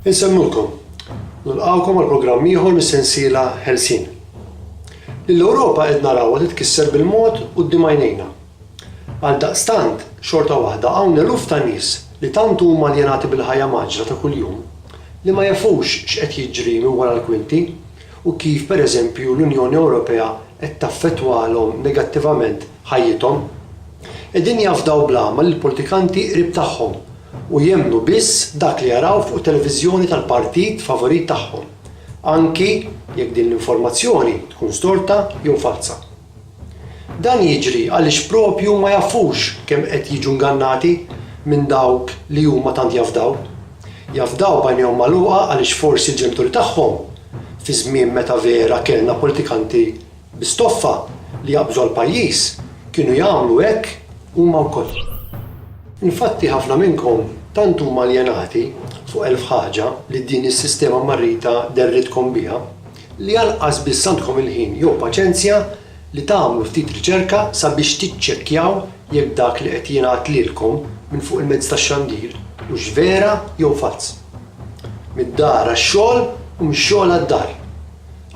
Insemmulkom. Nilqgħukom għal programm ieħor mis-sensiela Ħelsien. Lill-Ewropa qed narawha titkisser bil-mod quddiem għajnejna. Għaldaqstant, xorta waħda hawn eluf ta' nies li tant huma aljenati bil-ħajja mgħaġġla ta' kuljum li ma jafux x'qed jiġri minn wara l-kwinti u kif pereżempju l-Unjoni Ewropea qed taffettwalhom negattivament ħajjithom. Qegħdin jafdaw bl-għama lill-politikanti qrib tagħhom u jemmnu biss dak li jaraw fuq it-televiżjoni tal-partit favorit tagħhom, anki jekk din l-informazzjoni tkun storta jew falza. Dan jiġri għaliex proprju ma jafux kemm qed jiġu ngannati minn dawk li huma tant jafdaw. Jafdaw b'għajnejhom magħluqa għaliex forsi l-ġenituri tagħhom, fi żmien meta vera kellna politikanti Stoffa li jaqbżu l-pajjiż kienu jagħmlu hekk huma wkoll. Infatti ħafna minnkom tant huma aljenati fuq elf ħaġa li din is-sistema mmarrita derritkom biha li anqas biss għandkom il-ħin jew paċenzja li tagħmlu ftit riċerka sabiex tiċċekkjaw jekk dak li qed jingħad lilkom minn fuq il-mezzi tax-xandir hux vera jew falz. Mid-dar għax-xogħol u mix-xogħol għad-dar.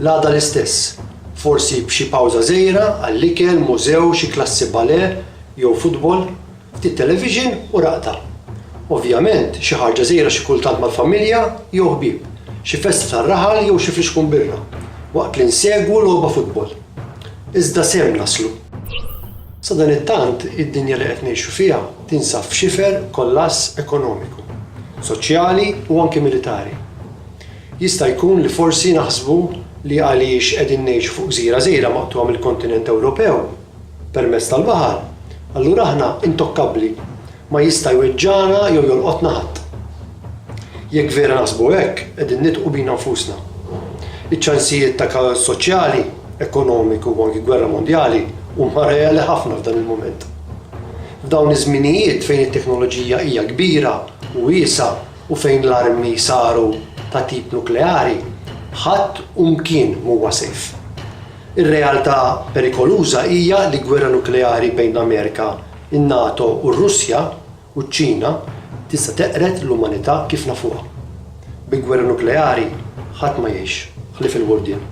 L-għada l-istess, forsi b'xi pawża żgħira għall-ikel, mużew, xi klassi ballet jew futbol, ftit television u raqda. Ovvjament, xi ħarġa żgħira xi kultant mal-familja jew ħbieb, xi festa tar-raħal jew xi flixkun birra, waqt li nsegwu logħba futbol. Iżda sew naslu. Sadanittant, id-dinja li qed ngħixu fiha tinsab f'xifer kollass ekonomiku, soċjali u anki militari. Jista' jkun li forsi naħsbu li għaliex qegħdin ngħixu fuq gżira żgħira maqtugħa mill-kontinent Ewropew permezz tal-baħar, allura aħna intokkabbli, ma jista' jweġġagħna jew jolqotna ħadd. Jekk vera naħsbu hekk, qegħdin nidħqu bina nfusna. Iċ-ċansijiet ta' kaos soċjali, ekonomiku u anki gwerra mondjali huma reali ħafna f'dan il-mument. F'dawn iż-żminijiet fejn it-teknoloġija hija kbira u wiesgħa, u fejn l-armi saru ta' tip nukleari, ħadd u mkien m'huwa safe. Ir-realtà perikoluża hija li gwerra nukleari bejn l-Amerika, in-NATO u r-Russja u ċ-Ċina tista' teqred l-umanità kif nafuha. Bi gwerra nukleari ħadd ma jgħix, ħlief il-Għurdien.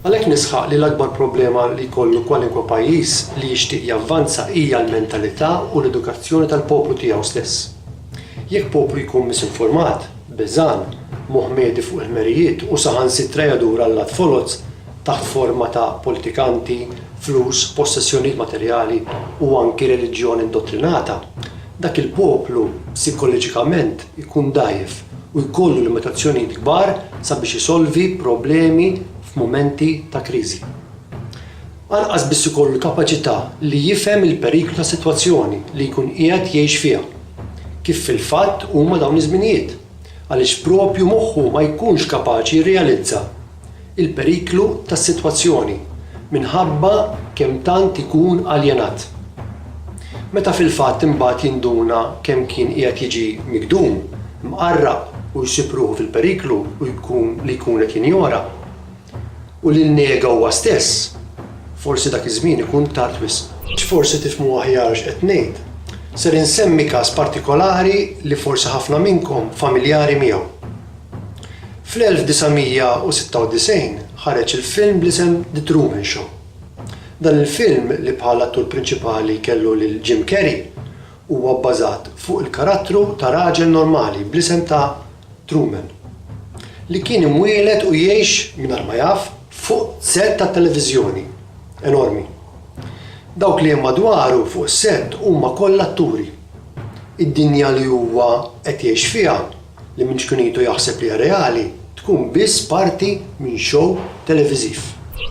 Għalhekk nisħaq li l-akbar problema li jkollu kwalinkwe pajjiż li jixtieq javvanza hija l-mentalità u l-edukazzjoni tal-poplu tiegħu stess. Jekk poplu jkun misinformat, beżgħan, moħmedi fuq il-ħmerijiet u saħansitra jadur għall-lat foloz taħt forma ta' politikanti, flus, possessjonijiet materjali u anki reliġjon indottrinata, dak il-poplu psikoliġikament ikun dgħajjef u jkollu limitazzjonijiet kbar sabiex isolvi problemi f'mumenti ta' kriżi. Anqas biss ikollu l-kapaċità li jifhem il-periklu tas-sitwazzjoni li jkun qiegħed jgħix fiha, kif fil-fatt huma dawn iż-żminijiet, għaliex proprju moħħu ma jkunx kapaċi jirrealizza l-periklu tas-sitwazzjoni minħabba kemm tant ikun aljenat. Meta fil-fatt imbagħad jinduna kemm kien qiegħed jiġi migdum, mqarraq u jsib ruħu fil-periklu u jkun li jkun qed jinjora, U li nnega huwa stess, forsi dak iż-żmien ikun tard wisq. Biex forsi tifhmu aħjar x'qed ngħid, ser insemmi każ partikolari li forsi ħafna minnkom familjari miegħu. Fl-1996 ħareġ il-film bl-isem The Truman Show. Dan il-film, li bħala attur prinċipali kellu lil Jim Carrey, huwa bbażat fuq il-karattru ta' raġel normali bl-isem ta' Truman, li kien imwieled u jgħix mingħajr ma jaf fuq sett tat-televiżjoni enormi. Dawk li hemm madwaru fuq is-sett huma kollha atturi. Id-dinja li huwa qed jgħix fiha, li minn ċkunitu jaħseb li hija reali, tkun biss parti minn xow televiżiv.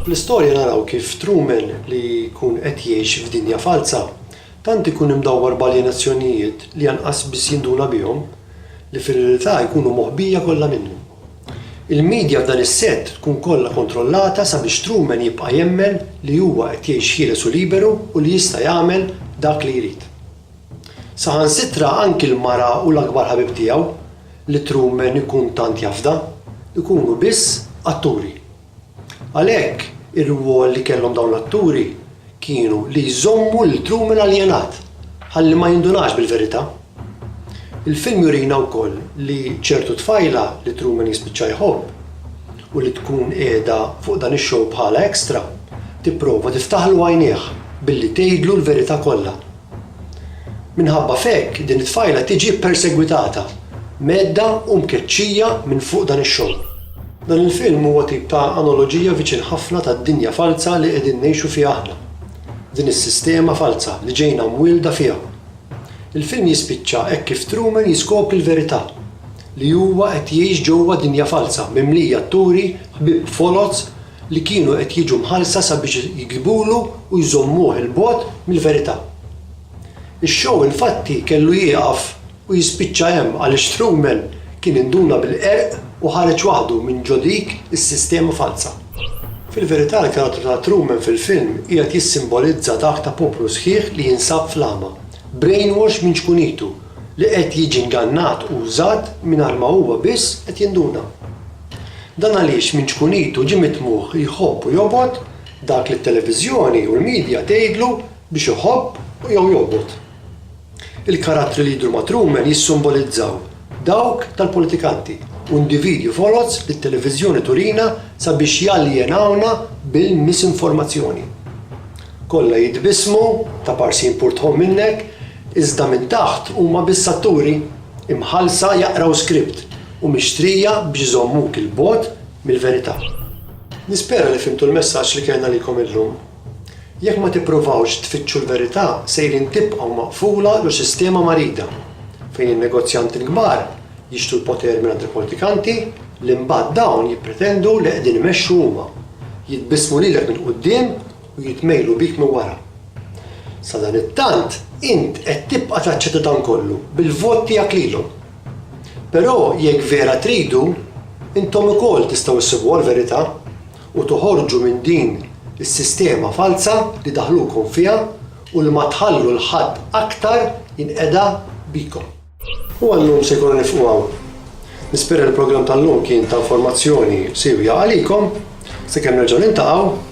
Fl-istorja naraw kif Truman, li jkun qed jgħix f'dinja falza, Tant ikun imdawwar b'aljenazzjonijiet li anqas biss jinduna bihom, li fir-realtà jkunu moħbija kollha minnu. Il-midja f'dan is-sett tkun kollha kontrollata sabiex Truman jibqa' jemmen li huwa qed jgħix ħieles u liberu u li jista' jagħmel dak li jrid. Saħansitra anki l-mara u l-akbar ħabib tiegħu, li Truman ikun tant jafda, ikunu biss atturi. Għalhekk, ir-rwol li kellhom dawn l-atturi kienu li jżommu lil Truman aljenat, ħalli ma jindunax bil-verità. Il-film jurina wkoll li ċertu tfajla li Truman jispiċċa jħobb, u li tkun qiegħda fuq dan ix-show bħala extra, tipprova tiftaħlu għajnejh billi tgħidlu l-verità kollha. Minħabba f'hekk din it-tfajla tiġi ppersegwitata, mgħeddha u mkeċċija minn fuq dan ix-xogħol. Dan il-film huwa tip ta' anoloġija viċin ħafna tad-dinja falza li qegħdin ngħixu fiha aħna. Din is-sistema falza li ġejna mwielda fiha. Il-film jispiċċa hekk kif Truman jiskopri l-verità, li huwa qed jgħix ġewwa dinja falza mimlija atturi ħbieb foloz li kienu qed jiġu mħallsa sabiex jigdbulu u jżommuh 'il bogħod mill-verità. Ix-show infatti kellu jieqaf u jispiċċa hemm għaliex Strumel kien induna bil-qerq u ħareġ waħdu minn ġo dik is-sistema falza. Fil-verità l-karattru ta' Truman fil-film qiegħed jissimbolizza dak ta' poplu sħiħ li jinsab fl-għama, brainwash minn ċkunitu, li qed jiġi ngannat u użat mingħajr ma huwa biss qed jinduna. Dan għaliex minn ċkunitu ġie mitmugħ li jħobb u jobgħod dak li t-televiżjoni u l-midja tgħidlu biex iħobb jew jobgħod. Il-karattri li jidhru ma' Truman jissimbolizzaw dawk tal-politikanti u individwi foloz li t-televiżjoni turina sabiex jaljenawna bil-misinformazzjoni. Kollha jitbissmu, ta' parsin pur tħomm minnek, iżda minn taħt huma biss atturi, imħallsa jaqraw skript. u mixtrija biex iżommuk 'il bogħod mill-verità. Nispera li fhimtu l-messaġġ li kellna għalikom illum. Jekk ma tippruvawx tfittxu l-verità sejrin tibqgħu maqfula ġo sistema marida, fejn in-negozjanti l-kbar jixtru l-poter mingħand il-politikanti li mbagħad dawn jippretendu li qegħdin imexxu huma, jitbissmu lilek minn quddiem u jitmejlu bik minn wara. Sadanittant int qed tibqa' taċċetta dan kollu bil-vot tiegħek lilhom. Però jekk vera tridu, intom ukoll tistgħu ssibuha l-verità u toħorġu minn din is-sistema falza li daħlukom fiha u li ma tħallu 'l ħadd aktar jinqeda bikom. U għal-lum se jkollna nifqu hawn. Nispera li l-programm tal-lum kien ta' informazzjoni siewja għalikom. Sakemm nerġgħu niltaqgħu.